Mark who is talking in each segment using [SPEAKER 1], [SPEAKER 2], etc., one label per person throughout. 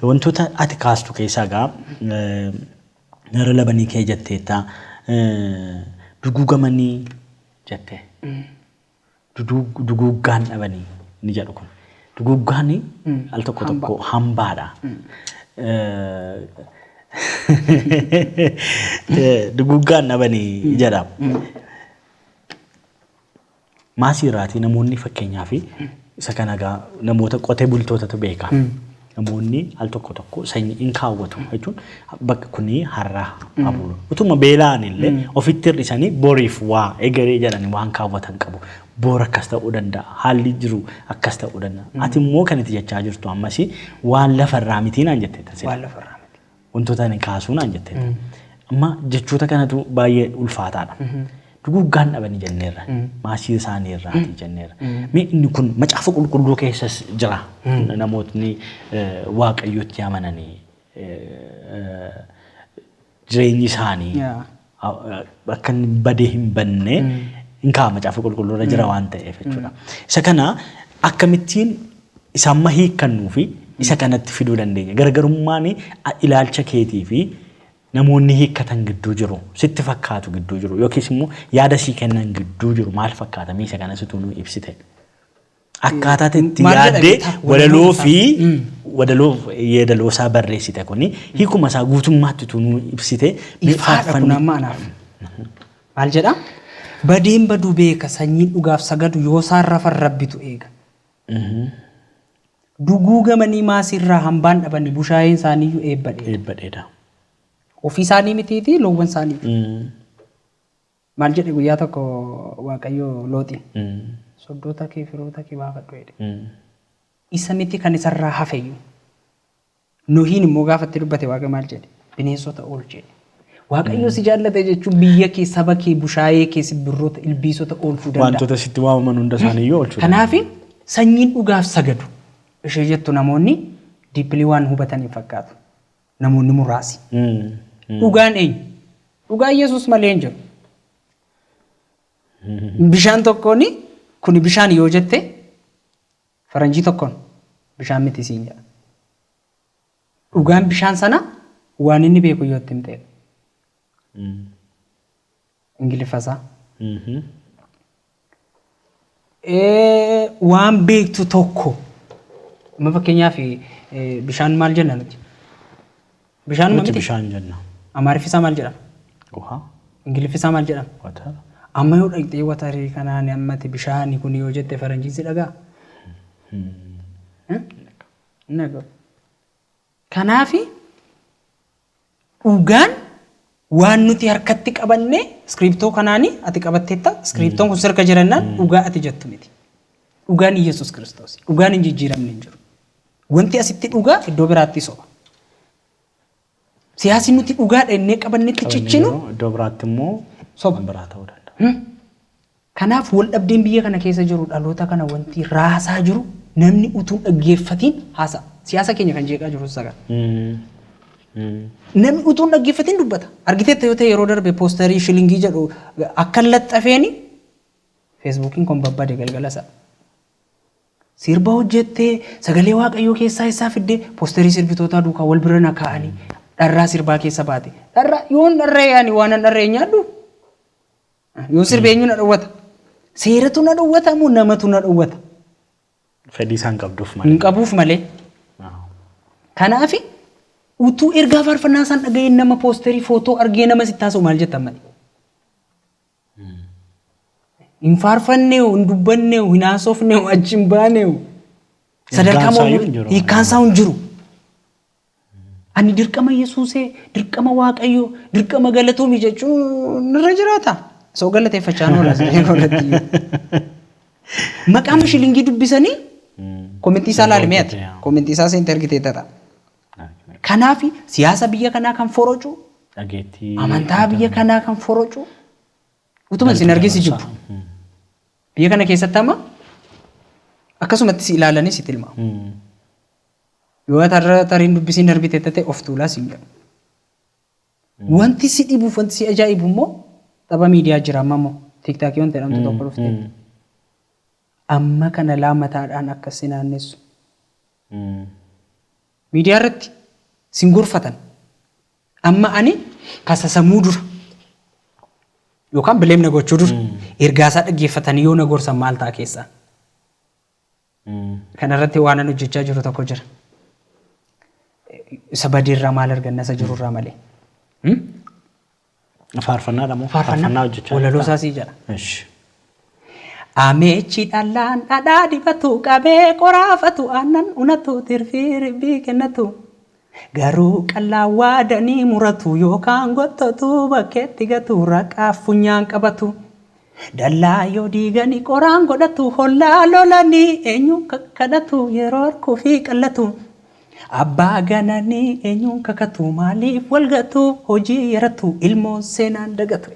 [SPEAKER 1] Wantoota ati kaastu keessaa egaa gara labanii kee jetteetta. Duguugamanii jette. Duguuggaan dhabanii inni jedhu kun. Duguuggaan al tokko tokko hambaadha. Duguuggaan dhabanii jedha. Maasii irraatii namoonni fakkeenyaa fi isa kana egaa namoota qotee bultootatu beeka. Namoonni al tokko tokko sanyii in kaawwatu jechuun bakka kuni har'a abulu. Utuma beela'an illee ofitti hir'isanii boriif waa egeree jedhanii waan kaawwatan qabu. Boor akkas ta'uu danda'a. Haalli jiru akkas ta'uu danda'a. Ati immoo kan itti jechaa jirtu ammasii waan lafarraa mitii naan jettee taasisa. Waan lafarraa miti.
[SPEAKER 2] Wantoota ani kaasuu
[SPEAKER 1] naan jette. Amma jechoota kanatu baay'ee ulfaataadha. Duguuggaan dhabanii jenneerra. Maasii isaanii irraati jenneerra. Mee inni kun macaafa qulqulluu keessas jira. Namootni waaqayyotti amananii jireenyi isaanii akka inni badee hin banne hin kaa'a macaafa qulqulluu irra jira waan ta'eef jechuudha. Isa kana akkamittiin isa amma hiikkannuu fi isa kanatti fiduu dandeenya. Gargarummaan ilaalcha keetii fi namoonni hiikkatan gidduu jiru sitti fakkaatu gidduu jiru yookiis immoo yaada sii kennan gidduu jiru maal fakkaata mee isa kanas utuu nuu ibsite. Akkaataati itti Maal jedha yaaddee beektaa? walaloo Walaloo fi isaa. Mm. wadaloo yeedaloo isaa barreessite kuni hiikuma isaa guutummaatti utuu nuu ibsite mee Ifaadha kun faarfanni- amma
[SPEAKER 2] anaaf. Maal jedha? Badeen baduu beeka sanyiin dhugaaf sagadu yoo isaan rafan rabbitu eega. Duguugamanii maasiirraa hambaan dhabanii bushaayeen isaaniiyyuu eebbadhe. Eebbadheedha. Ofii isaanii mitiitii loowwan isaaniiti. Mm. Maal jedhe guyyaa tokko Waaqayyo Looxiin? Soddoota kee, firoota kee baafadhu jedhe. Isa miti kan isarraa hafe iyyuu. Nohiin immoo gaafa itti dubbate Waaqayyo maal jedhe? Bineensota oolchi jedhe. Waaqayyo si jaallate jechuun biyya kee, saba kee, bushaayee kee, simbirroota, ilbiisota oolchuu danda'a. Wantoota sitti waamaman hunda
[SPEAKER 1] isaanii iyyuu oolchuu danda'a. Kanaaf sanyiin
[SPEAKER 2] dhugaaf sagadu ishee jettu namoonni diippilii waan hubataniif fakkaatu. namoonni muraasi. Dhugaan eenyu? Dhugaan Yesuus malee hin jiru. Bishaan tokkoon kuni bishaan yoo jette faranjii tokkoon bishaan miti siin jedha. Dhugaan bishaan sana waan inni beeku yoo itti himteedha. Ingiliffa isaa. waan beektu tokko amma fakkeenyaaf bishaan maal jenna nuti? Bishaan Nuti miti bishaan jenna.
[SPEAKER 1] Amaariffi isaa maal jedhama?
[SPEAKER 2] Uhaa.
[SPEAKER 1] Ingiliffi isaa maal
[SPEAKER 2] jedhama? Watar. Amma
[SPEAKER 1] yoo dhaqxee
[SPEAKER 2] watarii kanaan ammati bishaani kun yoo jette faranjiin si dhagaa? Hin dhaga'u. Kanaafi Dhugaan waan nuti harkatti qabanne iskiriiptoo kanaani ati qabatteetta iskiriiptoon kun sirka jirannaan dhugaa ati jettu miti. Dhugaan Iyyasuus Kiristoosi. Dhugaan hin jijjiiramne hin jiru. Wanti asitti dhugaa iddoo biraatti soba. Siyaasi nuti dhugaadha innee qabannetti cichinu Iddoo biraatti immoo
[SPEAKER 1] soba. biraa ta'uu
[SPEAKER 2] danda'a.
[SPEAKER 1] Kanaaf
[SPEAKER 2] waldhabdeen biyya kana keessa jiru dhaloota kana wanti raasaa jiru namni utuu hin dhaggeeffatiin haasa'a. Siyaasa keenya kan jeeqaa jirus isa kana. Namni utuu hin dhaggeeffatiin dubbata. Argiteetta yoo ta'e yeroo darbe poostarii shilingii jedhu akkan laxxafeeni feesbuukiin kun babbade galgala sana. Sirba hojjette sagalee waaqayyoo keessaa isaa fidde poostarii sirbitootaa duukaa wal bira na kaa'anii dharraa sirbaa keessa baate. Dharraa yoon dharra'ee ani waanan dharra'e hin nyaadhu. Yoo sirbe eenyu na dhowwata? Seeratu na dhowwata moo namatu na dhowwata? Fedhii
[SPEAKER 1] isaan qabduuf Hin malee. qabuuf malee.
[SPEAKER 2] Kanaaf utuu ergaa faarfannaa isaan dhaga'ee nama poosterii footoo argee nama sitti haasa'u maal jettan malee. Hin faarfanneewu, hin dubbanneewu, hin haasofneewu, achi hin baaneewu. Sadarkaa Hiikkaan isaa iyyuu hin jiru. hiikkaan isaa hin jiru. Ani dirqama Yesuusee, dirqama Waaqayyoo, dirqama galatoomi jechuun irra jiraata. Soo galateeffachaan oola siree koolatti iyyuu. Maqaa mashilingii dubbisanii komentii isaa laali mi'ati. Komentii isaa seente argitee tata. Kanaaf siyaasa biyya kanaa kan forocu, Dhageettii. amantaa biyya kanaa kan forocu, utuma isin argee si jibbu. Biyya kana keessatti amma akkasumatti si ilaalanii si tilmaamu. Yoo ati har'a tarii hin dubbisiin darbite tate of tuulaa siin jedhu. Wanti si dhibuuf wanti si ajaa'ibu immoo tapha miidiyaa jira amma immoo tiiktaakii wanti jedhamtu tokko dhufteetti. Amma kana laa mataadhaan akka si naannessu. Miidiyaa irratti sin gorfatan. Amma ani kasasamuu dura yookaan bileem na gochuu dura ergaasaa dhaggeeffatanii yoo na gorsan maal ta'a keessaa? Kana irratti waanan hojjechaa jiru tokko jira. Isa badii irraa maal arganna isa jiru irraa malee. Hmm?
[SPEAKER 1] Faarfannaadha moo? Faarfannaa hojjechaa walaloo jirtaa? isaa sii jedha.
[SPEAKER 2] Ish. Ameechi dhallaan dhadhaa dibatu qabee qoraafatu aannan unatu tirfii ribbii kennatu. Garuu qallaan waada ni muratu yookaan gottatu bakkeetti gatu raqaaf funyaan qabatu. Dallaa yoo diigani qoraan godhatu hollaa lolani eenyuun kakkadhatu yeroo harkuufi qallatu. Abbaa ganani eenyuun kakatu maaliif wal gatu hojii yaratu ilmoon seenaan dagatu.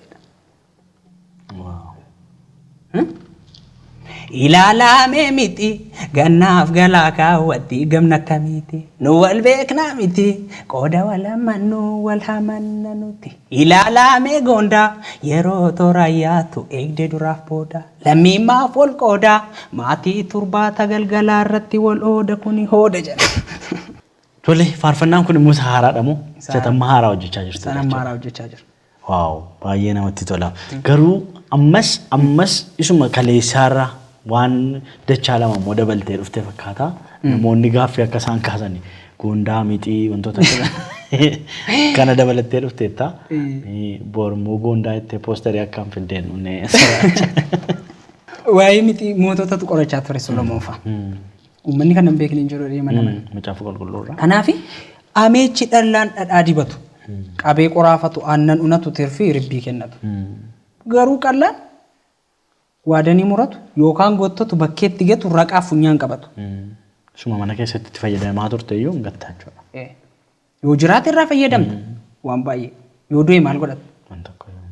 [SPEAKER 2] Ilaalaamee miti gannaaf galaa kaawwatti gamna akkamiiti nu wal beeknaa miti qooda wal hammannu wal hamanna nuti ilaalaamee goondaa yeroo toora yaatu eegde duraaf booda lammiin maaf wal qooda maatii turbaata galgalaa irratti wal ooda kuni hooda jedha. Tole
[SPEAKER 1] faarfannaan kun immoo isa haaraadha moo? Isa Isa haaraadha. tamma haaraa hojjechaa jirtu Sana jechuudha. maaraa hojjechaa jira.
[SPEAKER 2] Wow baay'ee
[SPEAKER 1] namatti tola. Garuu ammas ammas isuma kaleessaarra waan dachaa lama immoo dabaltee dhufte fakkaata. Namoonni gaaffii akka isaan kaasan goondaa mixii wantoota akkana- kana dabalattee dhufteetta. Bor immoo goondaa itti poostarii akkaan fiddeen dhufne.
[SPEAKER 2] Waa'ee miti moototatu qorachaa ture Solomoon fa'a. Uummanni kana hin beekne hin jiru jedhee mana mana. Macaafa qulqulluu irraa.
[SPEAKER 1] Kanaaf
[SPEAKER 2] ameechi dhallaan dhadhaa dibatu. Qabee qoraafatu aannan unatu tirfii ribbii kennatu. Garuu qallaan waadanii muratu yookaan gottatu bakkeetti gatu raqaaf funyaan qabatu. Suma mana
[SPEAKER 1] keessatti itti fayyadamaa turte iyyuu hin gattaa jechuudha. Eh, Yoo
[SPEAKER 2] jiraate irraa fayyadamta waan baay'ee. Yoo du'e maal godhata? Waan tokko yoo.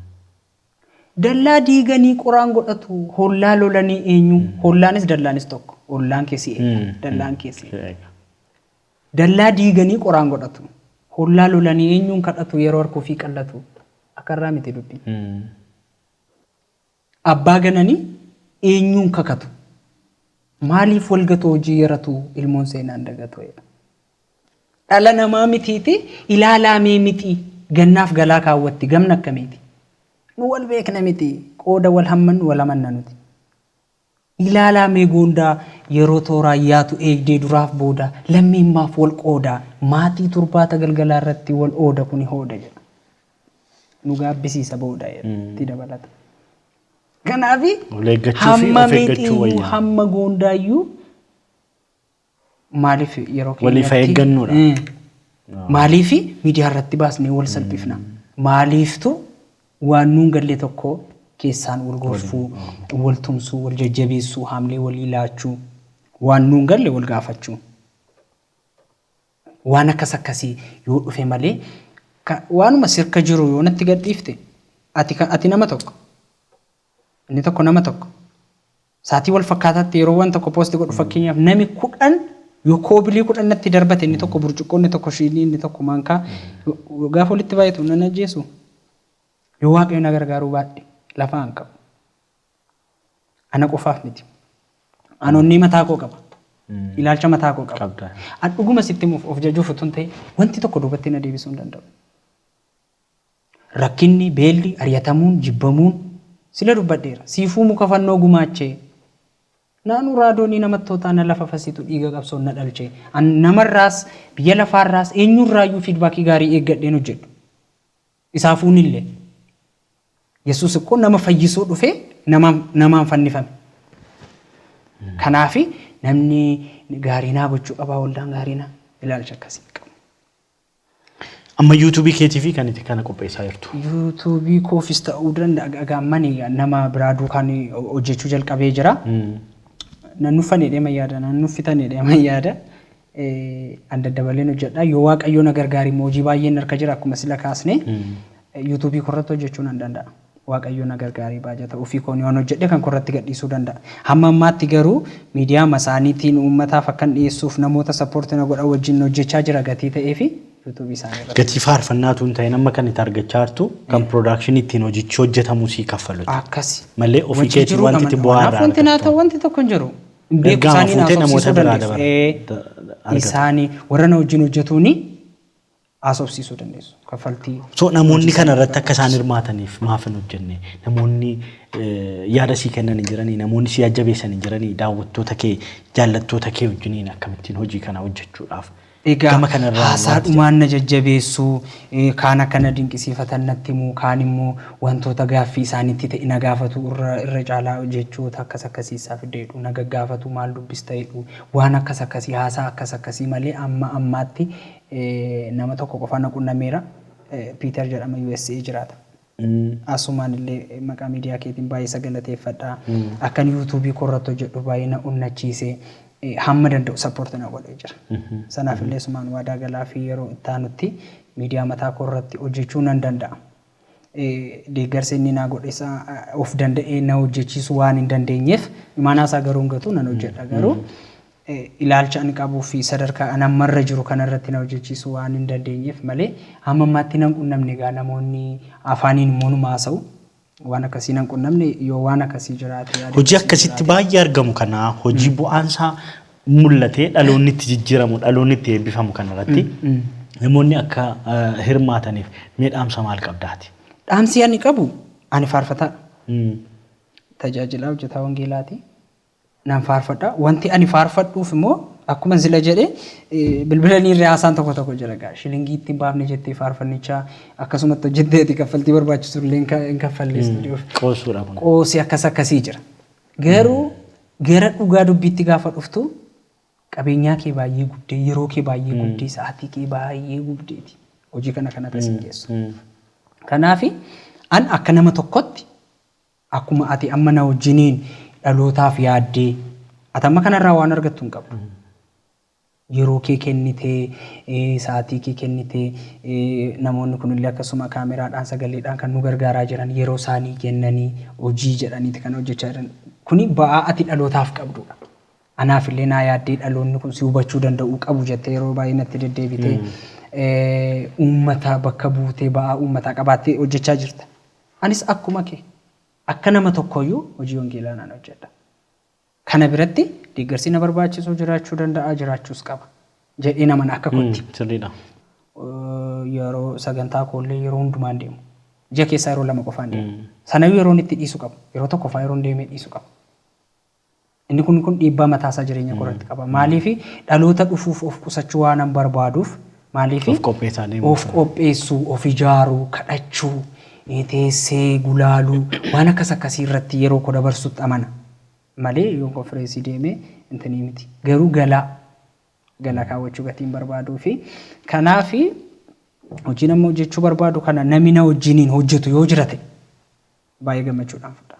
[SPEAKER 2] Dallaa diiganii qoraan godhatu, hollaa lolanii eenyu? Hollaanis dallaanis tokko. Ollaan kee si eega, dallaan kee si eega. Dallaa diiganii qoraan godhatu, hollaa lolanii eenyuun kadhatu yeroo harka ofii qallatu. Akarraa miti dubbi. Abbaa gananii eenyuun kakatu? Maaliif walgatoo hojii yaratu ilmoon seenaan dagatu jedha. Dhala namaa mitiiti ilaalaa mee mixii gannaaf galaa kaawwatti gamna akkamiiti? Nu wal beekna miti qooda wal hammannu wal amanna nuti. Ilaalaa mee goondaa yeroo tooraan yaatu eegdee duraaf booda lammiin maaf wal qooda maatii turbaata galgalaa irratti wal ooda kuni hooda jedha. Nu gaabbisiisa booda jedha itti dabalata. Kanaafi Wal eeggachuu fi of hamma eeggachuu mixiiyyuu wayya. hamma goondaayyuu Maaliif yeroo Waliif haa keenyatti-
[SPEAKER 1] eeggannuudha. Eh,
[SPEAKER 2] Maaliif miidiyaa irratti baasnee wal salphifna? Maaliiftu waan nuun galle tokko keessaan wal gorfuu, wal tumsuu, wal jajjabeessuu, haamlee walii laachuu, waan nuun galle wal gaafachuu. Waan akkas akkasii yoo dhufe malee ka- waanuma sirka jiru yoo natti gadhiifte ati, ka- ati nama tokko inni tokko nama tokko Saatii wal fakkaataatti yeroo wan tokko post godhu fakkeenyaaf nami kudhan yoo koobilii kudhan natti darbate inni tokko burcuqqoo inni tokko shiinii inni tokko maankaa gaafa walitti baay'atu nan ajjeesu yoo waaqayyo na gargaaruu baadhe lafa an qabu ana qofaaf miti an onnee mataa koo qaba ilaalcha mataa koo qaba Qabda. an dhuguma sitti himuuf of jajuuf utuu hin ta'in wanti tokko duubatti na deebisuu hin danda'u Rakkinni, beelli, ari'atamuun, jibbamuun sila dubbadheera. Siifuu muka fannoo gumaachee. Naanuu raadoonii namattootaa na lafafasitu dhiiga qabsoon na dhalche. An namarraas, biyya lafaarraas, eenyurraayyuu fiidbaakii gaarii eeggadheen hojjedhu. Isaafuunillee. Yesuus ikkoo nama fayyisuu dhufee namaan, namaan fannifame. Kanaafi namni gaarii naa gochuu qabaa waldaan gaarii naa ilaalcha akkasii hin qabu.
[SPEAKER 1] Amma YouTube keetiifi kan itti kana qopheessaa jirtu. YouTube koofis
[SPEAKER 2] ta'uu danda'a gaammani nama biraa duukaan hojjechuu jalqabee jira. Nan nuffan jedhee man yaada nan nuffitan jedhee man yaada. An daddabaleen hojjedha yoo waaqayyoo na gargaari immoo hojii baay'een harka jira akkuma sila kaasne YouTube korratti hojjechuu nan danda'a. Waaqayyoo na gargaaree baajata ofii koon yoon hojjedhe kan koo irratti gadhiisuu danda'a. Hamma ammaatti garuu miidiyaama isaaniitiin uummataaf akkan dhiyeessuuf namoota support na godhan wajjin hojjechaa jira gatii ta'eefi youtube isaanii irratti. Gatii faarfannaa utuu hin ta'in
[SPEAKER 1] amma kan itti argachaa jirtu kan production ittiin hojichi hojjetamu sii kaffalutu. Akkasi.
[SPEAKER 2] Malee
[SPEAKER 1] ofii
[SPEAKER 2] Wajjin
[SPEAKER 1] keetii jiruu wanti itti
[SPEAKER 2] gaman bu'aa
[SPEAKER 1] irraa kanaaf wanti
[SPEAKER 2] naa argattu.
[SPEAKER 1] ta'u wanti
[SPEAKER 2] tokko
[SPEAKER 1] hin jiru.
[SPEAKER 2] Hin beeku Ergaama isaanii naaf fuutee namoota haasofsiisuu biraa dandeessu. dabar- Ee, da- argata. isaanii warra na wajjin hojjetuuni. haasofsiisuu dandeessu. Kaffaltii. So namoonni kana
[SPEAKER 1] irratti akka isaan hirmaataniif maaf hin hojjenne? Namoonni eh, yaada sii kennan hin jiranii? Namoonni sii ajjabeessan hin jiranii? Daawwattoota kee, jaallattoota kee wajjiniin akkamittiin hojii kana hojjechuudhaaf? Egaa Gama kanarraa
[SPEAKER 2] haasaa wanti dhumaan na jajjabeessuu, eh, kaan akka na dinqisiifatan natti himuu, kaan immoo wantoota gaaffii isaanitti ta'e na gaafatu irra, irra caalaa jechoota akkas akkasii isaa fiddeedhu, na gaggaafatu maal dubbista jedhu, waan akkas akkasii haasaa akkas akkasii malee amma ammaatti Nama tokko qofa na qunnameera. Piiter jedhama usa jiraata. Asumaan illee maqaa miidiyaa keetiin baay'ee isa galateeffadha. Akkan yuutuubii koo irratti hojjedhu baay'ee na onnachiise. Hamma danda'u sappoorti na godhee jira. Sanaaf illee asumaan waadaa galaa fi yeroo itti aanutti miidiyaa mataa koo irratti hojjechuu nan danda'a. Deeggarsa inni naa godhes of danda'ee na hojjechiisuu waan hin dandeenyeef imaanaa isaa garuu hin gatu nan hojjedha garuu ilaalcha ani qabuu fi sadarkaa an amma irra jiru kana irratti na hojjechiisuu waan hin dandeenyeef malee hamma ammaatti nan qunnamne egaa namoonni afaaniin immoo numa haasa'u waan akkasii nan qunnamne yoo waan akkasii jiraate yaada Hojii akkasitti
[SPEAKER 1] baay'ee argamu kana hojii bu'aan isaa mul'ate dhaloonni itti jijjiiramu dhaloonni itti eebbifamu kanarratti namoonni akka eh, hirmaataniif mee dhaamsa maal qabdaati? Dhaamsi ani qabu
[SPEAKER 2] ani faarfataa Mm. tajaajilaa hojjetaa wangeelaati. Nan faarfadha. Wanti ani faarfadhuuf immoo akkuma sila jedhe eh, bilbila ni irra haasaan tokko tokko jira gaa. Shilingii ittiin baafne jettee faarfannichaa akkasumatti hojjetteeti kaffaltii barbaachisu illee hin ka- hin kaffalle istuudiyoof. Qoosuudha kun. Qoosii
[SPEAKER 1] akkas akkasii jira.
[SPEAKER 2] Garuu gara dhugaa dubbiitti gaafa dhuftu qabeenyaa kee baay'ee gubdee, yeroo kee baay'ee gubdee, sa'aatii kee baay'ee gubdeeti hojii kana kan irra si geessu. Kanaaf an akka nama tokkotti akkuma ati amma na wajjiniin dhalootaaf yaaddee ati amma kanarraa waan argattu hin qabdu. yeroo kee kennitee, sa'aatii kee kennitee, namoonni kunillee akkasuma kaameraadhaan, sagaleedhaan kan nu gargaaraa jiran yeroo isaanii kennanii hojii jedhaniiti kan hojjechaa jiran. Kuni ba'aa ati dhalootaaf qabdudha. Anaaf illee naa yaaddee dhaloonni kun si hubachuu danda'uu qabu jettee yeroo baay'ee natti deddeebitee uummata bakka buutee ba'aa uummataa qabaattee hojjechaa jirta. Anis akkuma kee akka nama tokkooyyuu hojii wangeelaa nan hojjedha. Kana biratti deeggarsi na barbaachisu jiraachuu danda'a, jiraachuus qaba jedheen amana akka kootti. Sirriidha. Yeroo sagantaa koollee yeroo hundumaa hin deemu. Ji'a keessaa yeroo lama qofaan deema. Sanayyuu yeroon itti dhiisu qabu. Yeroo tokko fa'aa yeroon deemee dhiisu qabu. Inni kun kun dhiibbaa mataasaa jireenya koo irratti qaba. Maaliif dhaloota dhufuuf of qusachuu waanan barbaaduuf Maaliif Of qopheessaa deemuu of isaa. qopheessuu, of ijaaruu, kadhachuu, eh, teessee gulaaluu waan akkas akkasii irratti yeroo koo dabarsutti amana. Malee yoo konfireensii deemee intinii miti. Garuu galaa galaa kaawwachuu gatii hin barbaaduu fi kanaaf hojiin amma hojjechuu barbaadu kana namni na wajjiniin hojjetu yoo jira ta'e baay'ee gammachuudhaan fudha.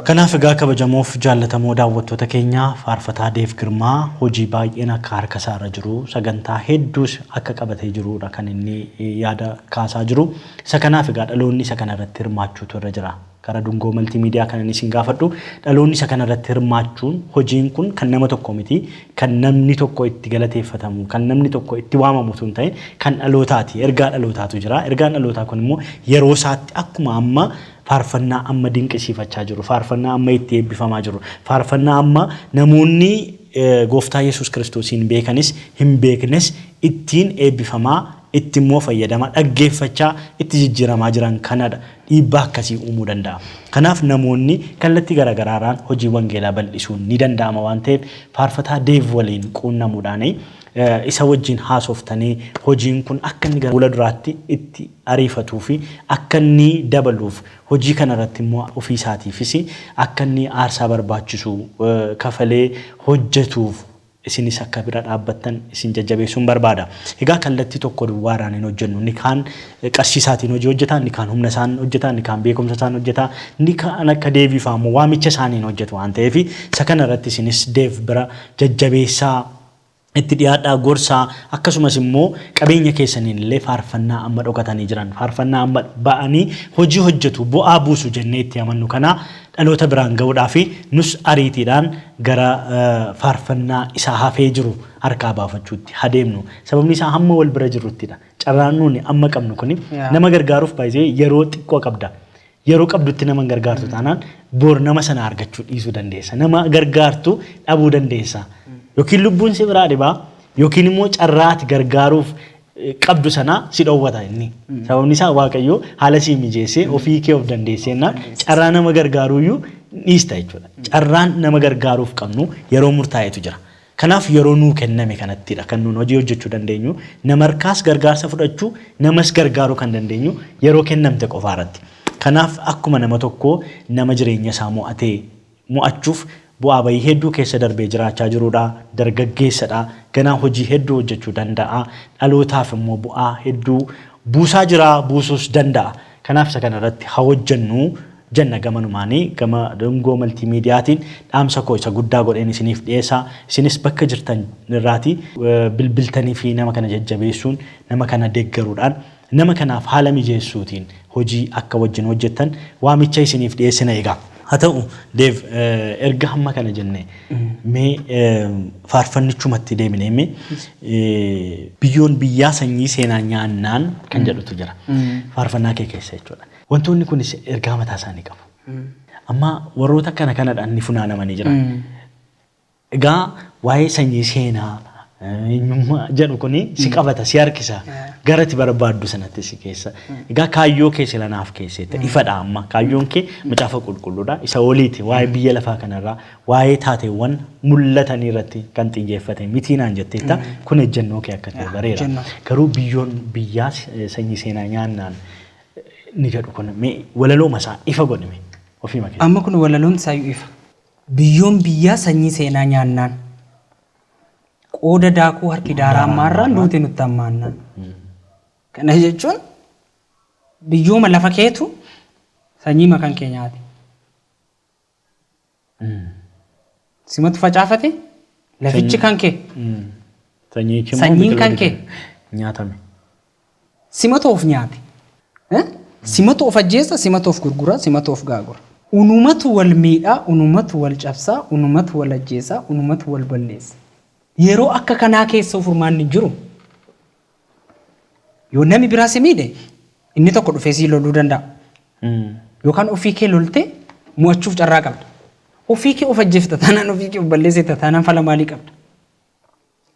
[SPEAKER 1] Kanaaf egaa kabajamoof jaallatamoo daawwattoota keenya faarfataa Deev Girmaa hojii baay'een akka harka isaa irra jiru sagantaa hedduus akka qabatee jiruudha kan inni yaada kaasaa jiru. Isa kanaaf egaa dhaloonni isa kana irratti hirmaachuutu irra jira. Gara Dungoo Maltii Miidiyaa kanan isin gaafadhu dhaloonni isa kana irratti hirmaachuun hojiin kun kan nama tokkoo miti kan namni tokko itti galateeffatamu, kan namni tokko itti waamamu utuu hin ta'in kan dhalootaati. Ergaa dhalootaatu jira. Ergaan dhalootaa kun immoo yeroo isaatti akkuma amma faarfannaa amma dinqisiifachaa jirru, faarfannaa amma itti eebbifamaa jirru, faarfannaa amma namoonni Gooftaa Yesuus Kiristoosiin beekanis hin beeknes ittiin eebbifamaa itti immoo fayyadamaa, dhaggeeffachaa itti jijjiiramaa jiran kanadha dhiibbaa akkasii uumuu danda'a. Kanaaf namoonni kallattii gara garaa irraan hojii wangeelaa bal'isuun ni danda'ama waan ta'eef faarfataa Deev waliin quunnamuudhaan isa wajjin haasoftanii hojiin kun akka inni gara fuula duraatti itti ariifatuu fi akka inni dabaluuf hojii kana irratti immoo ofii isaatiifis akka inni aarsaa barbaachisu kafalee hojjetuuf isinis akka bira dhaabbattan isin jajjabeessuun barbaada. Egaa kallattii tokko duwwaadhaan hin hojjennu. Inni kaan qarshii isaatiin hojii hojjeta, inni kaan humna isaan hojjeta, inni kaan beekumsa isaan hojjeta, inni kaan akka Deevii fa'a immoo waamicha isaaniin hojjetu waan ta'eef isa kana irratti isinis Deev bira jajjabeessaa, itti dhiyaadhaa, gorsaa akkasumas immoo qabeenya keessaniin illee faarfannaa amma dhokatanii jiran, faarfannaa amma ba'anii hojii hojjetu, bu'aa buusu jennee itti amannu kana dhaloota biraan ga'uudhaafi nus ariitiidhaan gara faarfannaa isa hafee jiru harkaa baafachuutti ha deemnu. Sababni isaa hamma wal bira jirruttidha. Carraan nuuni amma qabnu kuni Yaa. nama gargaaruuf by the way yeroo xiqqoo qabda. Yeroo qabdutti nama hin gargaartu taanaan bor nama sana argachuu dhiisuu dandeessa. Nama gargaartu dhabuu dandeessa. Yookiin lubbuun si biraa dhibaa yookiin immoo carraa ati gargaaruuf qabdu sanaa si dhoowwata inni. Sababni isaa Waaqayyo haala sii mijeessee ofii kee of dandeesseennaan carraa nama gargaaruuyyuu dhiista jechuudha. Carraan nama gargaaruuf qabnu yeroo murtaa'etu jira. Kanaaf yeroo nuu kenname kanattidha kan nuun hojii hojjechuu dandeenyu. Namarkaas gargaarsa fudhachuu, namas gargaaruu kan dandeenyu yeroo kennamte qofaarratti. Kanaaf akkuma nama tokkoo nama jireenyasaa mo'atee, mo'achuuf bu'aa ba'ii hedduu keessa darbee jiraachaa jiruudha. Dargaggeessadha. Ganaa hojii hedduu hojjechuu danda'a. Dhalootaaf immoo bu'aa hedduu buusaa jira, buusuus danda'a. Kanaaf isa kana irratti haa hojjennu jenna gamanumaani. Gama Dungoo Maltiimiidiyaatiin dhaamsa koo isa guddaa godheen isiniif dhiyeessa. Isinis bakka jirtan irraati bilbiltaniifi nama kana jajjabeessuun, nama kana deggaruudhaan Nama kanaaf haala mijeessuutiin hojii akka wajjin hojjettan waamicha isiniif dhiyeessina egaa. Haa ta'u, Dev, erga hamma kana jennee, mee faarfannichumatti deebinee mee, Biyyoon biyyaa sanyii seenaa nyaannaan kan jedhutu jira faarfannaa kee keessa jechuu dha. Wantoonni kunis ergaa mataa isaanii qabu. Amma warroota akkana kanadhaan ni funaanamanii jiran. Egaa waa'ee sanyii seenaa, eenyummaa jedhu kuni si qabata, si harkisa. Gara itti barbaaddu sanatti si geessa. Egaa kaayyoo kee sila naaf keesseetta. Ifadha amma. Kaayyoon kee Macaafa Qulqulluudha. Isa oliiti. Waa'ee biyya lafaa kanarraa, waa'ee taateewwan mul'atanii irratti kan xiyyeeffate miti naan jetteetta. Kun ejjennoo kee akka ta'e bareera. Ejjennoo koo. Garuu biyyoon biyyaa sanyii seenaa nyaannaan inni jedhu kun mee walalooma isaa ifa godhi mee ofiima keetii. Amma kun walaloon isaayyuu
[SPEAKER 2] ifa. Biyyoon biyyaa sanyii seenaa nyaannaan. Qooda daakuu harki daaraan maarraan duuti nutti hammaannaan. Kana jechuun biyyooma lafa keetu sanyii makan kee nyaate. Simatu facaafate lafichi kan kee. Sanyichi immoo Sanyiin kan biqiloota kee. nyaatame. Simatu of nyaate. Eh? Simatu of ajjeessa, simatu of gurgura, simatu of gaagura. Unumatu wal miidha, unumatu wal cabsa, unumatu wal ajjeesa, unumatu wal balleessa. Yeroo akka kanaa keessoo furmaanni hin jiru. Yoo nami biraa si miidhe, inni tokko dhufee sii loluu danda'a. Yookaan ofii kee loltee mo'achuuf carraa qabda. Ofii kee of ajjeefta taanaan ofii kee of balleessita taanaan fala maalii qabda?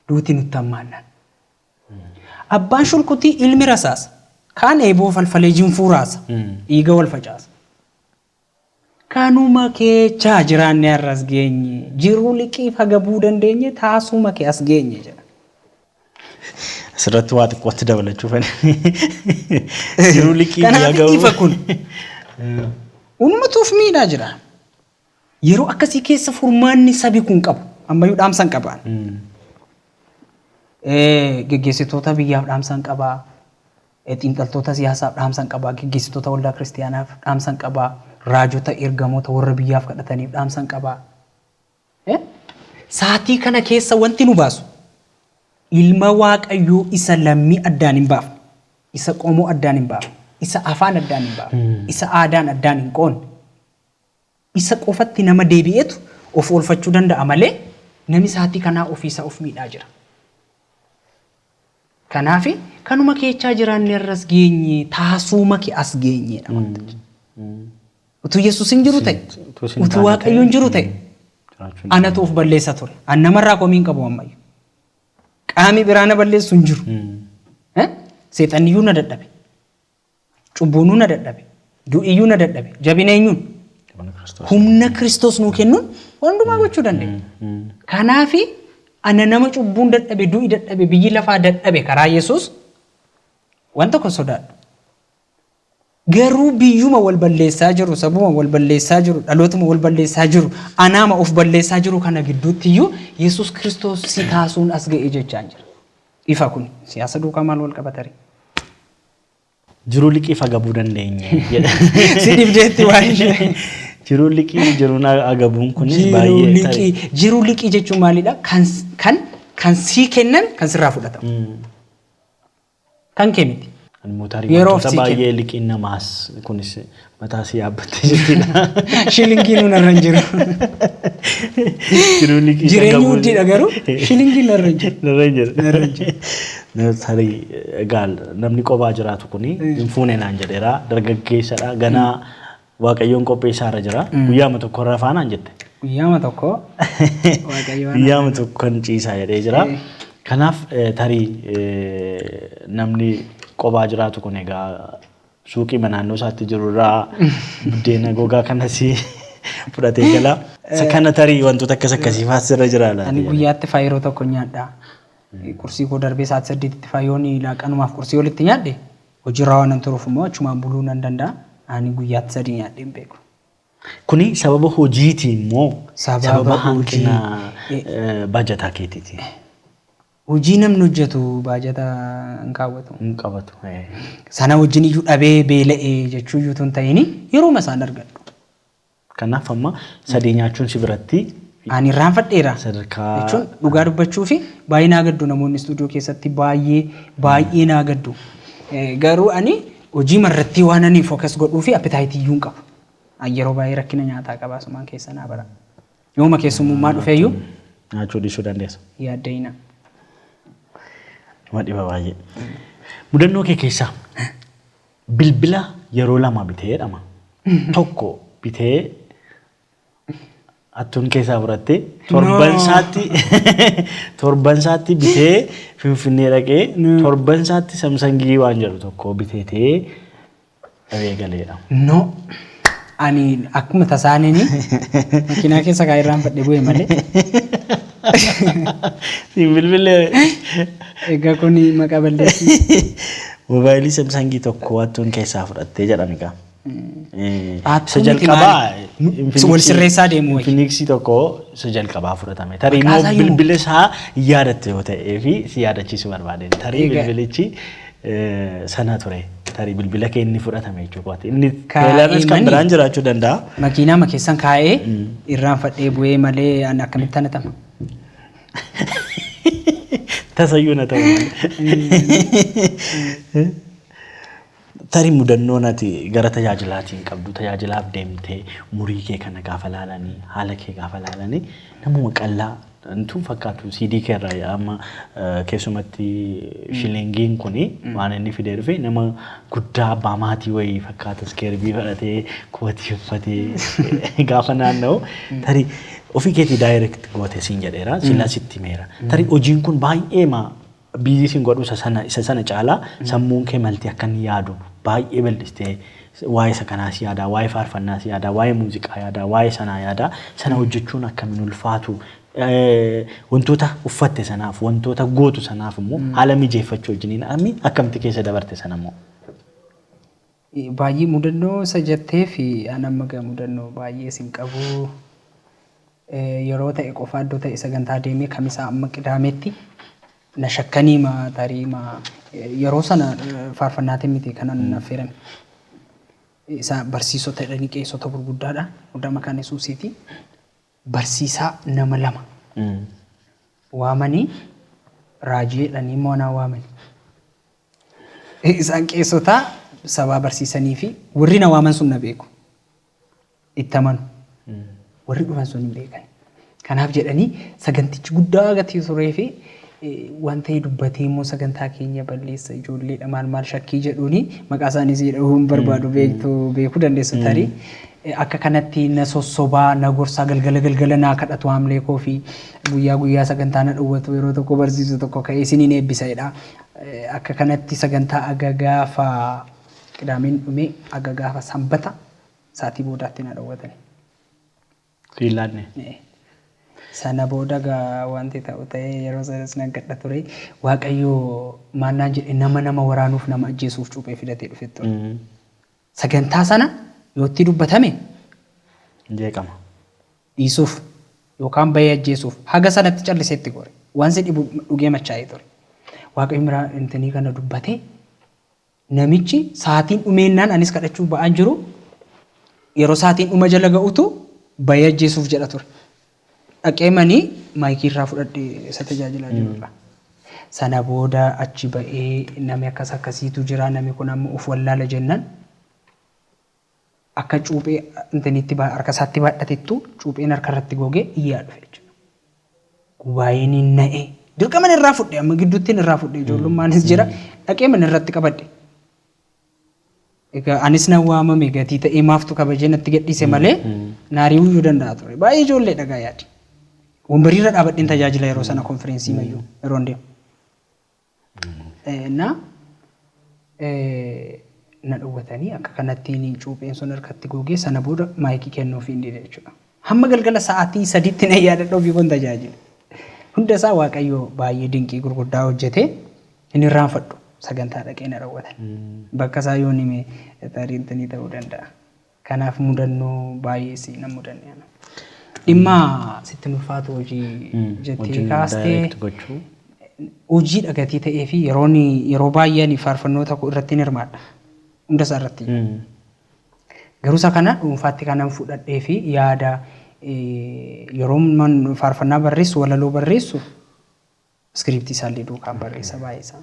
[SPEAKER 2] Duuti nutti hammaannaan. Abbaan shulkutii ilmi rasaasa. Kaan eeboo falfalee jinfuu raasa. Dhiiga wal facaasa. Kanuma keechaa jiraannee har'a as geenye. Jiruu liqiif hagabuu dandeenye taasuma kee as geenye jedha. Asirratti
[SPEAKER 1] waa xiqqootti dabalachuu fedha. Jiruu liqii Kanaaf hagabuu. ifa kun.
[SPEAKER 2] Ummatuuf miidhaa jira. Yeroo akkasii keessa furmaanni sabi kun qabu ammayyuu dhaamsan qabaan. Geggeessitoota biyyaaf dhaamsan qabaa. Xiinxaltoota siyaasaaf dhaamsan qabaa. Geggeessitoota waldaa kiristiyaanaaf dhaamsan qabaa. Raajota ergamoota warra biyyaaf kadhataniif dhaamsan qabaa. Saatii kana keessa wanti nu baasu ilma waaqayyoo isa lammii addaan hin baafne, isa qomoo addaan hin baafne, isa afaan addaan hin baafne, isa aadaan addaan hin qoonne, Isa qofatti nama deebi'etu of oolfachuu danda'a malee nami saatii kanaa ofii isaa of miidhaa jira. Kanaafi kanuma keechaa jiraanne irras geenye taasuuma ke as geenyeedha wanta jechuudha. Utuu Yesuus hin jiru ta'e, Sin- utuu sin utuu taane Waaqayyo hin ta'e, jiru ta'e, jiraachuu hin anatu of balleessa ture. An namarraa komii hin qabu ammayyu. Qaami biraa na balleessu hin jiru. Eh? Seexanniyyuu na dadhabe. Cubbuunuu na dadhabe. Du'iyyuu na dadhabe. Jabina eenyuun? Humna Kiristoos. Humna Kiristoos nuu kennuun waan hundumaa gochuu dandeenya. Kanaaf ana nama cubbuun dadhabe, du'i dadhabe, biyyi lafaa dadhabe karaa Yesuus waan tokko hin sodaadhu. Garuu biyyuma wal balleessaa jiru, sabuma wal balleessaa jiru, dhalootuma wal balleessaa jiru, anaama of balleessaa jiru kana gidduutti iyyuu Yesuus Kiristoos si kaasuun as ga'e jechaan jira. Ifa kun siyaasa duukaa maal wal qabatare?
[SPEAKER 1] Jiruu liqii fagabuu dandeenye jedha. Si dhibdeetti
[SPEAKER 2] waan ishee. Jiruu liqii
[SPEAKER 1] jiruun agabuun kunis Jiruu baay'ee liqii. tarii. Jiruu liqii jechuun
[SPEAKER 2] maalidha? Kan s- kan kan sii kennan kan sirraa fudhatamu. Mm. Kan kee miti. Immoo tarii Yeroof wantoota
[SPEAKER 1] si kenna. baay'ee liqiin namaas kunis Mataa si yaabbattee jirti laa. Shilingii nuun
[SPEAKER 2] irra hin jiru. Jiruun liqii Jireenyi qabu. huddiidha garuu shilingiin narra hin jiru. Narra hin jiru. Narra hin
[SPEAKER 1] jiru. Na- Tarii egaa namni qophaa jiraatu kun hin fuune naan jedheera dargaggeessadha ganaa waaqayyoon qopheessaa irra jira guyyaama tokko irra faanaan jette Guyyaama tokko waaqayyo
[SPEAKER 2] waan guyyaama tokko kan
[SPEAKER 1] ciisaa jedhee jira Eh. kanaaf eh, tarii eh, namni qophaa jiraatu kun egaa suuqiima naannoo isaatti jiru irraa buddeena gogaa kanas fudhatee gala. Isa kana tarii wantoota akkas akkasii faas irra jira laata? Ani guyyaatti faa yeroo tokko
[SPEAKER 2] nyaadha. Qursii koo darbee sa'aatii saddeetitti faa yoon laaqanumaaf qursii olitti nyaadhe hojiirraa waan hin turuuf immoo achumaan buluu nan danda'a. Ani guyyaatti sadii nyaadhee hin beeku. Kuni
[SPEAKER 1] sababa hojiitiin moo Sababa sababa hanqina- hanqina eh, baajataa keetiiti? Hojii
[SPEAKER 2] namni hojjetu baajata hin kaawwatu. Hin qabatu.
[SPEAKER 1] Sana wajjin
[SPEAKER 2] iyyuu dhabee beela'e jechuu iyyuu utuu hin ta'in yerooma isaan argadhu. Kanaaf
[SPEAKER 1] amma sadee nyaachuun si biratti Ani irraanfadheera
[SPEAKER 2] sadarkaa jechuun
[SPEAKER 1] dhugaa dubbachuu
[SPEAKER 2] fi baay'ee naa gaddu namoonni istuudiyoo keessatti baay'ee baay'ee naa gaddu. Eh, Garuu ani hojii marratti waan ani fookas godhuu fi appitaayitii iyyuu hin qabu. Ani yeroo baay'ee rakkina nyaataa qaba asumaan keessa naa bara. Yooma keessummummaa dhufeeyyuu. Nyaachuu dhiisuu
[SPEAKER 1] dandeessa. Yaadda'ina.
[SPEAKER 2] Nama
[SPEAKER 1] dhiba baay'ee. Mudannoo kee keessaa bilbila yeroo lama bitee jedhama. Tokko bitee hattuun keessaa fudhattee torban No. isaatti torban isaatti bitee finfinnee dhaqee No. torban isaatti samsangii waan jedhu tokko biteetee Dhabee galeedha. No.
[SPEAKER 2] Ani akkuma tasaanini makiinaa keessa kaa irraan fadhe bu'e malee.
[SPEAKER 1] Siin bilbilee.
[SPEAKER 2] Egaa kun maqaa balleessii. Moobaayilii
[SPEAKER 1] Samsangii tokko hattuun keessaa fudhattee jedhame gaa.
[SPEAKER 2] Hattuu Isa miti jalqabaa maali? Wal sirreessaa deemu wayya. Infinixii tokko
[SPEAKER 1] isa jalqabaa fudhatame. Tarii Maqaa immoo isaa himu. bilbila isaa yaadatte yoo ta'ee fi si yaadachiisuu barbaadeen. Tarii Egaa- bilbilichi sana ture tarii bilbila kee inni fudhatame jechuu kooti. Inni Kaa'ee teelarnis kan manii? biraan jiraachuu danda'a. Makiinaa ma keessan
[SPEAKER 2] kaa'ee irraan fadhee bu'ee malee an akkamitti ana tama.
[SPEAKER 1] Tasayyuu na ta'u. Tarii mudannoo nati gara tajaajilaatiin qabdu tajaajilaaf deemtee umurii kee kana gaafa laalanii haala kee gaafa laalanii namuma qal'aa Tun fakkaatu CD keerraa yaa amma keessumatti shilingiin kun waan inni fidee dhufe nama guddaa abbaa maatii wayii fakkaata iskeerbii fudhatee kootii uffatee gaafa naanna'u tarii ofii keetii daayireekt goote siin jedheera sillaa sitti meera tarii hojiin kun baay'ee maa Biizii sin godhu isa sana isa sana caalaa sammuun kee malti akka inni yaadu baay'ee bal'istee waa'ee isa kanaas yaadaa waa'ee faarfannaas yaadaa waa'ee muuziqaa yaadaa waa'ee sanaa yaadaa sana hojjechuun akka min ulfaatu wantoota uffatte sanaaf wantoota gootu sanaaf immoo haala mijeeffachuu wajjiniin ammi akkamti keessa dabarte sana immoo. Baay'ee
[SPEAKER 2] mudannoo isa jetteef an amma gaa mudannoo baay'ees hin qabu. Yeroo ta'e qofaa iddoo ta'e sagantaa deemee kamisaa amma qidaametti na shakkaniima tariima yeroo sana faarfannaatiin miti kanan na affeeran. Isa barsiisota jedhanii qeessota gurguddaadha guddaa maqaan Yesuusiiti. barsiisaa nama lama waamanii raajii jedhanii immoo anaa waamanii. Isaan qeessota sabaa barsiisanii fi warri na waaman sun na beeku. Itti amanu. Warri dhufan sun hin beekani. Kanaaf jedhanii sagantichi guddaa gatii turee fi eh, waan ta'e dubbatee immoo sagantaa keenya balleessa ijoolleedha maal maal shakkii jedhuuni maqaa isaaniis jedhamuu hin barbaadu beektu beekuu dandeessu tarii. Akka kanatti na sossoba, na gorsa, galgala galgala naa kadhatu haamlee koo fi guyyaa guyyaa sagantaa na dhowwatu yeroo tokko barsiisu tokko ka'ee isiniin eebbisa jedha. Akka kanatti sagantaa aga gaafa qidaameen dhume aga gaafa sanbata sa'atii boodaatti na dhowwatani.
[SPEAKER 1] Siif laanne. Ee.
[SPEAKER 2] Sana booda egaa wanti ta'u ta'ee yeroo sanas nan kadha ture. Waaqayyo maal naan jedhe nama nama waraanuuf nama ajjeesuuf cuuphee filatee dhufe ture. Sagantaa sana yoo itti dubbatame hin
[SPEAKER 1] jeeqama.
[SPEAKER 2] Dhiisuuf yookaan bahee ajjeesuuf haga sanatti callisee itti gore. Waan si dhibu dhugee machaa'ee ture. Waaqayyo miraa intini kana dubbate namichi saatiin dhumeennaan anis kadhachuuf ba'aan jiru yeroo saatiin dhuma jala ga'utu bahee ajjeesuuf jedha ture. Dhaqee manii maayikii irraa fudhadhe isa tajaajilaa jiru irraa. Sana booda achi ba'ee nami akkas akkasiitu jira nami kun amma of wallaala jennan akka cuuphee intiniitti ba- harka isaatti baadhatettu cuupheen harka irratti goge iyyaa dhufe jechuudha. Gubaayeen hin na'e dirqaman irraa fudhe amma gidduuttiin irraa fudhe ijoollummaanis jira dhaqee mana irratti qabadhe. Egaa anis nan waamame gatii ta'ee maaftu kabajee natti gadhiise malee naari'uuyyuu danda'a ture. Baay'ee ijoolleedha egaa yaadi. Wambariirra dhaabadheen tajaajila yeroo sana konfireensii mayyuu yeroon deemu. Eh, Na eh, na dhowwatanii akka kanatti cuupheen sun harkatti googee sana booda maayikii kennuufii hin dide jechuudha. Hamma galgala sa'aatii sadiitti nan yaadadha ofii koon tajaajile. Hunda isaa Waaqayyo baay'ee dinqii gurguddaa hojjetee hin irraanfadhu. Sagantaa dhaqee na raawwatan. Bakka isaa yoon hime tarii intanii ta'uu danda'a. Kanaaf mudannoo baay'ee si nan mudanne ana. Dhimma sitti hin ulfaatu hojii jettee Hojiin kaastee direct gochuu. hojii dhagatii ta'ee fi yeroon yeroo baay'ee ani faarfannoota koo irratti hin hirmaadha. Hunda isaa irratti. Garuusa kana dhuunfaatti kanan fudhadhee fi yaada yeroon faarfannaa barreessu walaloo barreessu iskiriiptii isaallee duukaan barreessa baay'eesaa.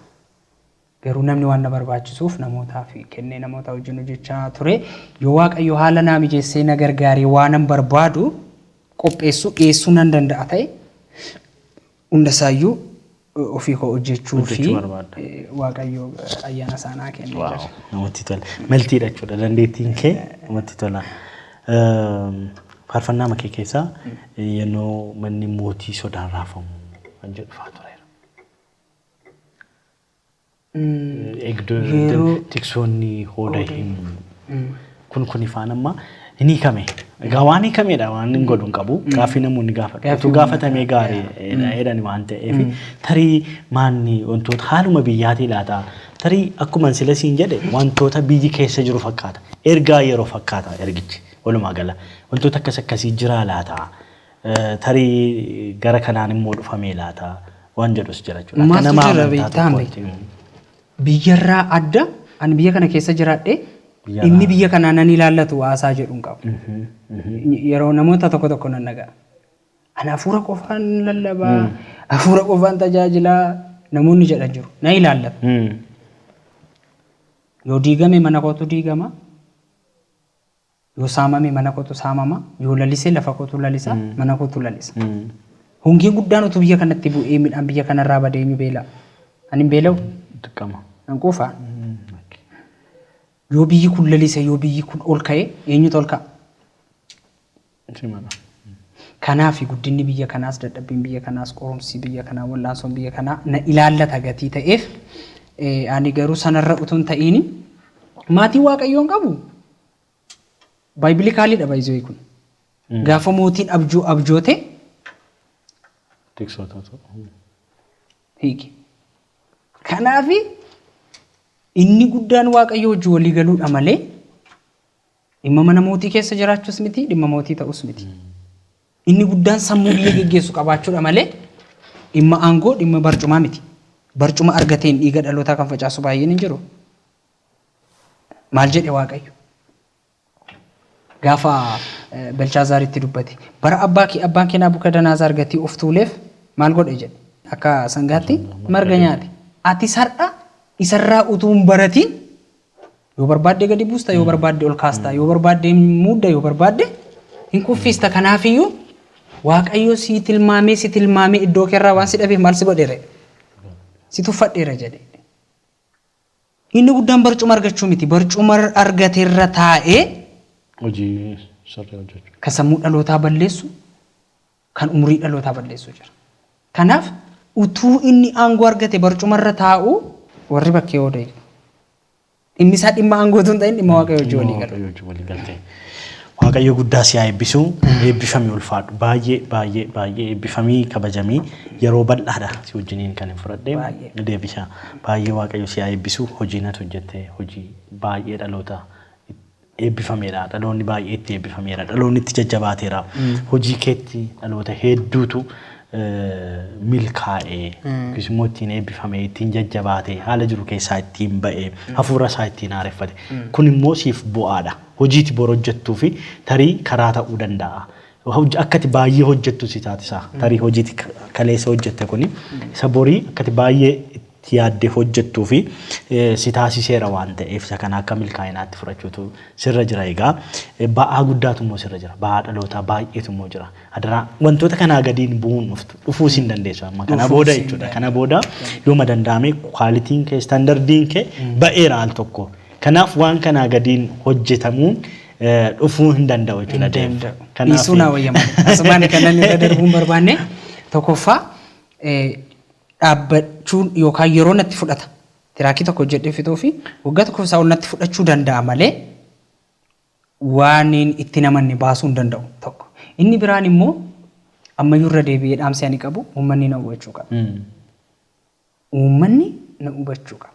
[SPEAKER 2] Garuu namni waan na barbaachisuuf namootaaf kennee namoota wajjin hojjechaa ture. Yoo Waaqayyo haala naa mijeessee na gargaaree waanan barbaadu qopheessu dhiyeessuu nan danda'a ta'e Hunda isaayyuu ofii koo hojjechuu fi Hojjechuu barbaadda. Waaqayyo ayyaana isaa naa kennee Waaw, jira. namatti tola.
[SPEAKER 1] Meltiidha jechuudha dandeettiin kee namatti tola. Ehm, Faarfannaa makee keessaa yennoo manni mootii sodaan raafamu kan jedhu faa tureera. Yeroo- tiksoonni hooda Hooda hin kun kun ifaan amma hin hiikame. Egaa waan hiikamedha waan hin godhu hin qabu. Gaaffii namoonni gaafatan. Gaaffii Utuu uummataa. gaafatamee gaariidha jedhani waan ta'eef tarii maanni wantoota haaluma biyyaatii laata tarii akkuman sila siin jedhe wantoota biyyi keessa jiru fakkaata. Ergaa yeroo fakkaata ergichi walumaa gala. Wantoota akkas akkasii jiraa laata? Tarii gara kanaan immoo dhufamee laata waan jedhus jira jechuudha. Akka Maaltu nama jira amantaa beektaa
[SPEAKER 2] mee? tokkootti. Mm. Biyyarraa adda ani biyya kana keessa jiraadhe Biyyarraa inni biyya kanaa nan ilaallatu haasaa jedhu hin qabu. Mhm, mhm. Yeroo namoota tokko tokko nan dhaga'a. Ani hafuura qofaan lallabaa, hafuura qofaan tajaajilaa namoonni jedhan jiru. Na ilaallatu. Mm. Yoo diigame mana kootu diigama. Yoo saamame mana kotu saamama, yoo lalise lafa kotu lalisa, mana kotu lalisa. Hongee guddaan utuu biyya kanatti bu'ee midhaan biyya kanarraa badee eenyu beela'a? Ani hin beela'u? Dirqama. Nan
[SPEAKER 1] quufaa?
[SPEAKER 2] Yoo biyyi kun lalise, yoo biyyi kun ol ka'e eenyutu ol ka'a? Simala. Kanaaf guddinni biyya kanaas, dadhabbiin biyya kanaas, qorumsi biyya kanaa, wal'aansoon biyya kanaa na ilaallata gatii ta'eef eh, ani garuu sanarra utuu hin ta'iini maatii waaqayyoon qabu Biblical dha by the way kun. Gaafa mootiin abjuu abjoote Tiksootatu. hiike. Kanaaf inni guddaan waaqayyo wajjin walii galuudha malee dhimma mana mootii keessa jiraachuus miti dhimma mootii ta'us miti. Inni guddaan sammuu biyya geggeessu qabaachuudha malee dhimma aangoo dhimma barcumaa miti. Barcuma argateen dhiiga dhalootaa kan facaasu baay'een hin jiru. Maal jedhe Waaqayyo? Gaafa eh, Belshaazaaritti dubbate. Bara abbaa kee abbaan kee Naabukadanazaar gatii of tuuleef maal godhe jedhe? Akka sangaatti Sangaa marga marga jedhe. nyaate. Atis har'a isarraa utuu hin baratiin yoo barbaadde gadi buusta, yoo barbaadde ol kaasta, yoo barbaadde hin muudda, yoo barbaadde hin kuffiista. Kanaafiyyuu Waaqayyo sii tilmaamee si tilmaamee iddoo keerraa waan si dhabeef maal si godheere? Si tuffadheera jedhe. Inni guddaan barcuma argachuu miti, barcuma argate irra taa'ee. hojii
[SPEAKER 1] sirrii hojjechuu. kan sammuu dhalootaa
[SPEAKER 2] balleessu, kan umurii dhalootaa balleessu jira. Kanaaf utuu inni aangoo argate barcuma irra taa'uu warri bakkee ooda iyyuu. Dhimmi isaa dhimma aangoo utuu hin ta'in dhimma Waaqayyoo wajjin walii galuu. Waaqayyoo wajjin walii galtee. Waaqayyo guddaa si haa eebbisu. Eebbifami ulfaadhu. Baay'ee baay'ee baay'ee eebbifamii kabajamii yeroo bal'aadha si wajjiniin kan hin fudhadhe. Baay'ee. Deebisa. Baay'ee Waaqayyo si haa eebbisu. Hojiin ati hojjette hojii baay'ee dhaloota eebbifameedha. Dhaloonni baay'ee itti eebbifameera. Dhaloonni itti jajjabaateera. Hojii keetti dhaloota hedduutu milkaa'e yookiis immoo ittiin eebbifame, ittiin jajjabaate, haala jiru keessaa ittiin ba'e, hafuura isaa ittiin haareffate. Kun immoo siif bu'aadha. Hojii ati bor hojjettuu fi tarii karaa ta'uu danda'a. Akka ati baay'ee hojjettu si taasisa. Tarii hojii ati kaleessa hojjette kuni isa borii akka ati baay'ee itti yaaddee hojjettuu fi si taasiseera waan ta'eef isa kana akka milkaa'inaatti fudhachuutu sirra jira egaa. Ba'aa guddaatu immoo sirra jira. Ba'aa dhalootaa baay'eetu immoo jira. Adaraa wantoota kanaa gadiin bu'uun dhuftu dhufuu sin dandeessu amma kana booda jechuudha. Kana booda yooma danda'ame kwaalitiin kee istandardiin kee ba'eera al tokko. Kanaaf
[SPEAKER 1] waan kanaa gadiin hojjetamuun dhufuu hin danda'u jechuudha. Dhiisuu naa wayya
[SPEAKER 2] malee. Asumaan kanan irra darbuun barbaanne tokkoffaa dhaabbachuun yookaan yeroo natti fudhata. Tiraakii tokko hojjedhee fixuufi waggaa tokkoof isaa ol natti fudhachuu danda'a malee waanin itti hin amanne baasuu hin danda'u tokko. Inni biraan immoo ammayyuu irra deebi'ee dhaamsi ani qabu uummanni na hubachuu qaba. Uummanni na hubachuu qaba.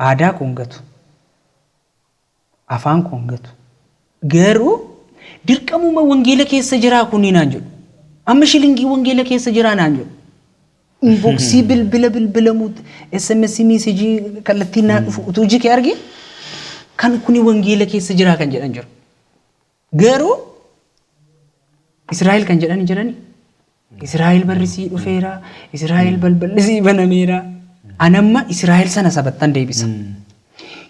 [SPEAKER 2] Aadaa koo hin gatu. afaan koo hin gatu. Garuu dirqamuma wangeela keessa jiraa kunii naan jedhu. Amma shilingii wangeela keessa jiraa naan jedhu. Inboksii bilbila bilbilamuu SMS miisejii kallattiin naa dhufu utuu iji kee argee kan kuni wangeela keessa jiraa kan jedhan jiru. Garuu Israa'el kan jedhan hin jirani. Israa'el barri sii dhufeera, Israa'el balballi sii banameera. Anamma Israa'el sana sabattan deebisa.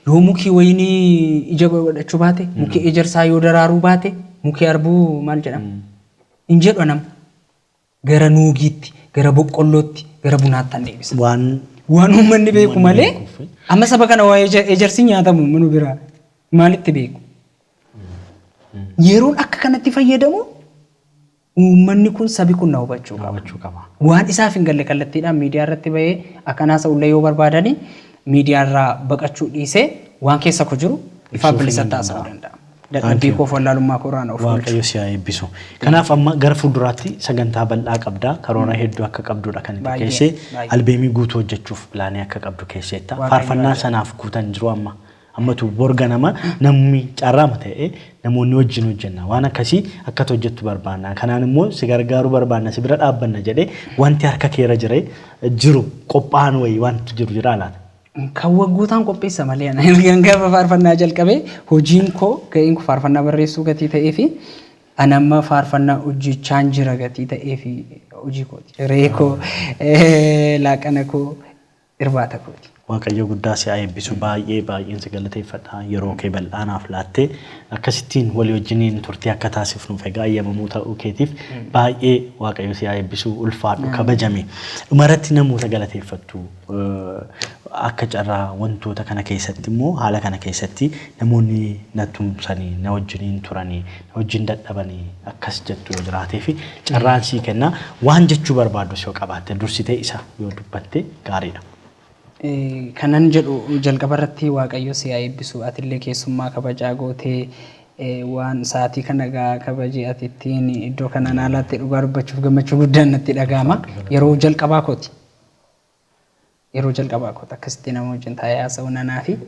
[SPEAKER 2] Yoo mukii wayinii ija godhachuu baate, mukii ejersaa yoo daraaruu baate, mukii arbuu maal jedhama? Hin jedhu anamma. Gara nuugiitti, gara boqqollootti, gara bunaattan deebisa. Waan Waan uummanni beeku Uummanni malee beekuufi. amma saba kana waa eja- ejersi nyaatamu minu biraa maalitti beeku? Yeroon akka kanatti fayyadamu uummanni kun sabi kun na hubachuu qaba. hubachuu qaba. Waan isaaf hin galle kallattiidhaan miidiyaa irratti bahee akkan haasa'ullee yoo barbaadani miidiyaa irraa baqachuu dhiisee waan keessa koo jiru ifaa Ibsuuf bilisatti hin haasa'uu danda'amu. danda'a. Dadhabbii koof wallaalummaa koo irraa na of oolchu. Waaqayyo si haa eebbisu.
[SPEAKER 1] Kanaaf amma gara fuulduraatti sagantaa bal'aa qabda. Karoora hedduu akka qabdudha kan itti keesse. Albeemii guutuu hojjechuuf pilaanii akka qabdu keesseetta. Faarfannaa sanaaf guutan jiru amma. Ammatu bor ganama namni carraama ta'e namoonni wajjin hojjenna. Waan akkasii akka ati hojjettu barbaanna. Kanaan immoo si gargaaruu barbaanna, si bira dhaabbanna jedhee wanti harka kee irra jire jiru qophaa'an wayii wanti jiru jiraa laata? Kan waggootaan
[SPEAKER 2] qopheessa malee ana. Ergan gaafa faarfannaa jalqabe hojiin koo ga'een koo faarfannaa barreessuu gatii ta'eefi ani amma faarfannaa hojjechaan jira gatii ta'eefi hojii kooti. Hiree koo, laaqana koo, irbaata kooti. Waaqayyo guddaa si haa
[SPEAKER 1] eebbisu. Baay'ee baay'een si galateeffadha. Yeroo kee bal'aa naaf laattee akkasittiin walii wajjiniin turtii akka taasifnuuf egaa ayyamamoo ta'uu keetiif baay'ee Waaqayyo si haa eebbisu. Ulfaadhu, kabajami. Dhumarratti namoota galateeffattu. Akka carraa wantoota kana keessatti immoo haala kana keessatti namoonni na tumsanii na wajjiniin turanii na wajjin dadhabanii akkas jettu yoo jiraatee fi carraan sii kenna waan jechuu barbaadus yoo qabaatte dursitee isa yoo dubbatte gaariidha.
[SPEAKER 2] Kanan jedhu jalqaba irratti waaqayyo si haa eebbisu atillee keessummaa kabajaa gootee waan sa'aatii kana egaa kabaje ati ittiin iddoo kana naa laatte dhugaa dubbachuuf gammachuu guddaan natti dhaga'ama yeroo jalqabaa kooti. Yeroo jalqabaa kooti akkasitti nama wajjin taa'ee haasa'uun anaafi.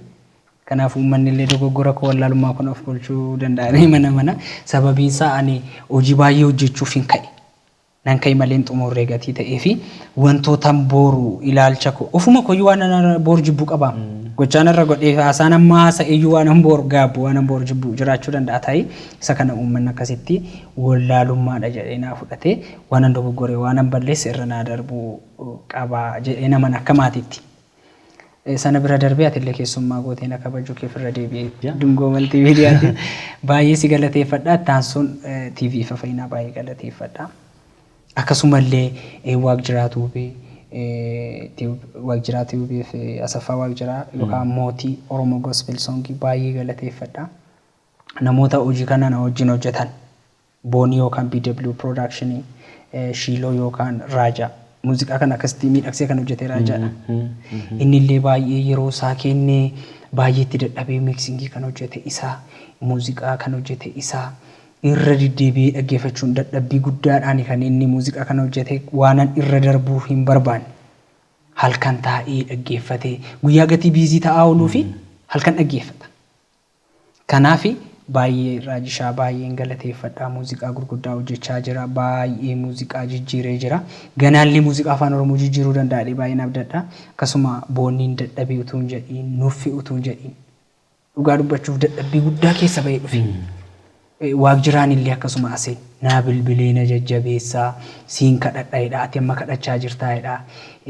[SPEAKER 2] Kanaaf uummanni illee dogoggora koo wallaalummaa kun of bulchuu danda'anii mana mana sababiin isaa ani hojii baay'ee hojjechuuf hin ka'e. Nan ka'e malee hin xumurree gatii ta'ee fi wantootan booru ilaalcha koo ofuma kooyyuu waan ana booru jibbuu qaba. Gochaan irra godhee fi haasaan amma haasa'e iyyuu waanan booru gaabbu waanan booru jibbu jiraachuu danda'a ta'e isa kana uummanni akkasitti wallaalummaadha jedhee naa fudhatee waanan dogoggore waanan balleesse irra naa darbu qaba jedhee naman akka maatiitti. Sana bira darbee atillee keessummaa gootee na kabajuu keef irra deebi'ee Dungoo Maltiimiidiyaatiin baay'ee si galateeffadha. Itti aansuun TV Ifa Fayyinaa baay'ee galateeffadha. Akkasumallee Waaqjiraa Tuubee Tube, Waaqjiraa Tube fi Asaffaa Waaqjiraa yookaan Mootii Oromoo Gospel Song baay'ee galateeffadha. Namoota hojii kana na wajjin hojjetan. Boonii yookaan BW production Shiiloo yookaan Raajaa. Muuziqaa kana akkasitti miidhagsee kan hojjete Raajaadha. Inni illee baay'ee yeroo isaa kennee baay'ee itti dadhabee miiksingii kan hojjete isa, muuziqaa kan hojjete isa. Irra deddeebi'ee dhaggeeffachuun dadhabbii guddaadhaan kan inni muuziqaa kana hojjete waanan irra darbuu hin barbaanne. Halkan taa'ee dhaggeeffate. Guyyaa gatii biizii ta'aa ooluu fi halkan dhaggeeffata. Kanaafi baay'ee irraa jishaa baay'een galateeffadha muuziqaa gurguddaa hojjechaa jira baay'ee muuziqaa jijjiiree jira ganaallee muuziqaa afaan oromoo jijjiiruu danda'a jedhee baay'een abdadha akkasuma boonniin dadhabee utuu hin jedhiin nuffi utuu hin jedhiin dhugaa dubbachuuf dadhabbii guddaa keessa ba'ee dhufe Eh, waaqjiraan illee akkasuma ase naa bilbilee na jajjabeessaa siin kadhadha jedha ati amma kadhachaa jirtaa jedha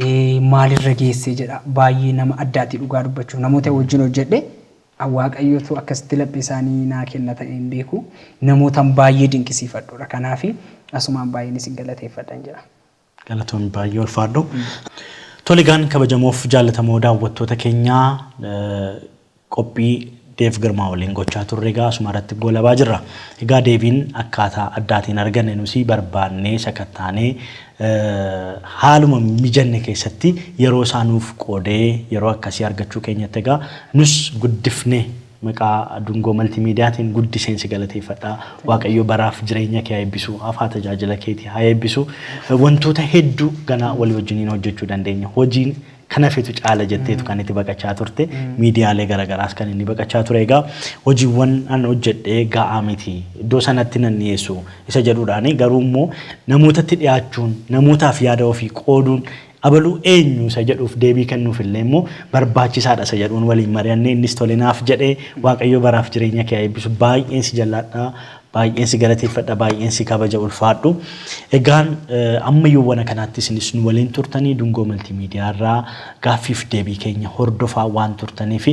[SPEAKER 2] Eh, maalirra geessee jedha baay'ee nama addaati dhugaa dubbachuuf namoota wajjin hojjedhe An Waaqayyo utuu akkasitti laphee isaanii naa kenna ta'ee hin beeku. Namootan baay'ee dinqisiifadhudha. Kanaafi asumaan baay'een
[SPEAKER 1] isin
[SPEAKER 2] galateeffadhan jedha. Galatoomi baay'ee ulfaadhu. Tole
[SPEAKER 1] egaan kabajamoof jaallatamoo daawwattoota keenya qophii Dev Girmaa waliin gochaa turre egaa asuma irratti goolabaa jirra. Egaa Deviin akkaataa addaatiin arganne nusi barbaannee sakattaanee haaluma mijanne keessatti yeroo isaa nuuf qoodee yeroo akkasii argachuu keenyatti egaa nus guddifnee maqaa Dungoo Maltiimiidiyaatiin guddiseen si galateeffadha. Waaqayyo baraaf jireenya kee haa eebbisu, hafaa tajaajila keetii haa eebbisu. Wantoota hedduu ganaa walii wajjiniin hojjechuu dandeenya. Hojiin Kanafitu caala jetteetu kan itti baqachaa turte. Miidiyaalee garagaraas kan inni baqachaa ture. Egaa hojiiwwan an hojjedhe ga'aa miti. Iddoo sanatti nan dhiyeessu isa jedhuudhaani. Garuu immoo namootatti dhiyaachuun, namootaaf yaada ofii qooduun abalu eenyu isa jedhuuf deebii kennuuf illee immoo barbaachisaadha isa jedhuun waliin mari'annee innis tole naaf jedhe. Waaqayyo baraaf jireenya kee haa eebbisu. Baay'een si jallaadha. Baay'een si galateeffadha, baay'een si kabaja ulfaadhu. Egaan amma yoowwana kanaatti isinis nu waliin turtanii Dungoo Maltiimiidiyaa irraa gaaffiif deebii keenya hordofaa waan turtaniif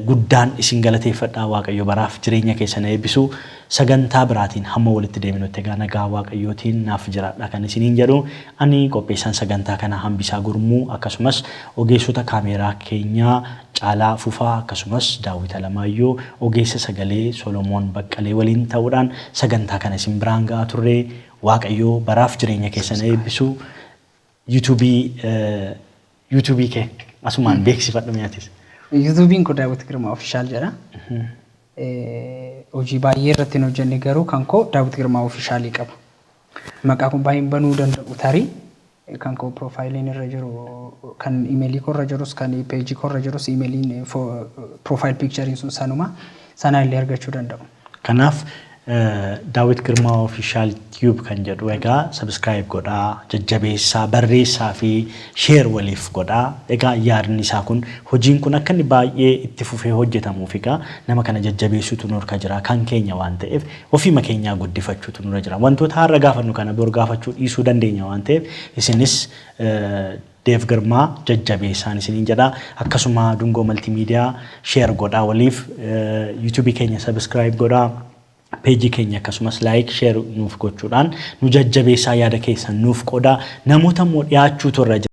[SPEAKER 1] guddaan isin galateeffadha. Waaqayyo baraaf jireenya keessan haa eebbisu. Sagantaa biraatiin hamma walitti deebinutti egaa nagaa Waaqayyootiin naaf jiraadhaa kan isiniin jedhu ani qopheessaan sagantaa kanaa Hambisaa Gurmuu akkasumas ogeessota kaameeraa keenyaa Caalaa Fufaa akkasumas Daawwit Alamaayyoo ogeessa sagalee Solomoon Baqqalee waliin ta'uudhaan sagantaa kana isin biraan ga'aa turre. Waaqayyo baraaf jireenya keessan haa eebbisu. YouTube YouTube kee asumaan beeksifadhu mee atis. YouTube'n koo Daawwit
[SPEAKER 2] Girmaa Official jedha. Hojii baay'ee irratti hin hojjenne garuu kan koo Daawwit Girmaa Official qaba. Maqaa koo baay'een banuu danda'u tarii kan koo profayiliin irra jiru kan imelii koo irra jirus kan page koo irra jirus imeliin profile picture'n sun sanuma sanaa illee argachuu danda'u. Kanaaf
[SPEAKER 1] Daawit Girmaa Official Tube kan jedhu egaa subscribe godhaa, jajjabeessaa, barreessaa fi share waliif godhaa. Egaa yaadni isaa kun hojiin kun akka inni baay'ee itti fufee hojjetamuuf egaa nama kana jajjabeessuutu nurka jira kan keenya waan ta'eef Ofiima keenyaa guddifachuutu nurra jira. Wantoota har'a gaafannu kana bor gaafachuu dhiisuu dandeenya waan ta'eef isinis Dev Girmaa jajjabeessaan isiniin jedha. Akkasuma Dungoo Multimedia share godhaa waliif. YouTube keenya subscribe godhaa. Page keenya akkasumas like share nuuf gochuudhaan nu jajjabeessaa yaada keessan nuuf qoodaa. Namoota immoo dhiyaachuutu irra jira.